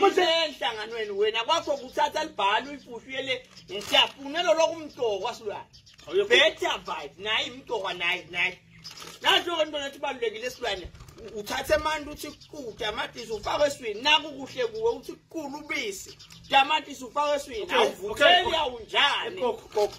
kusenhlanganweni wena kwakho kuthatha libhalo uyifuhlu yele ngiyafuna lolo kumtokwa silwane better vibe naye imtokwa naye naye nathi ke ntwana ethi balulekile silwane uthathe amantu uthi kude amadisi ufake eswini naku kuhle kuwe uthi kulu ubisi tamatisi ufake eswini awuvutheli awunjani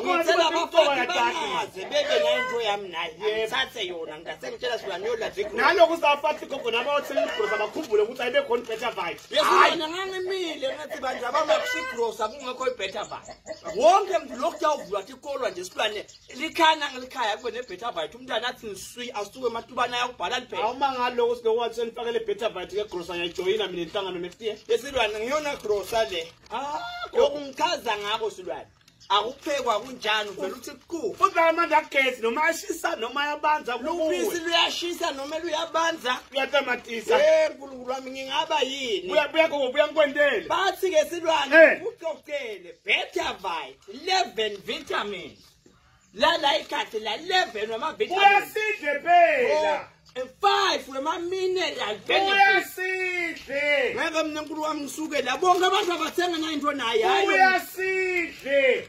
ngicela abafana bangaze bebe nayo into yami naye ngithathe yona ngasengitshela sula niyola zikho naloku safathi gogo nabo othela igrosa bakhumbule ukuthi ayibe khona better vibe yesona ngangimile ngathi banje abamakuthi igrosa kungekho ibetter vibe wonke mntu lokhu yawuvula ukuthi ikolwa nje silwane likhana ngelikhaya kube nebetter vibe umntana athi niswi asuke ematubana ayakubhala liphela awuma ngaloko sibewathi senifakele better vibe ke grosa ngiyajoyina mina inhlangano next year yesilwane ngiyona grosa le ah yokungichaza ngako silwane akuphekwa kunjani uvela uthi qu futhi la manje agezi noma ashisa noma yabanza lubisi luyashisa noma luyabanza luyatamatisa eh nkulunkulu wami ngingaba yini buya buya go buya ngikwendele bathi ke silwane eh. uxoxele better vibe 11 vitamins lala ikhathi la 11 wamavitamin uyasidle phela and five wema-mineral uyasidle ngeke mna nkulu wami ngisuke la bonke abantu abathenga nayinto naye uyasidle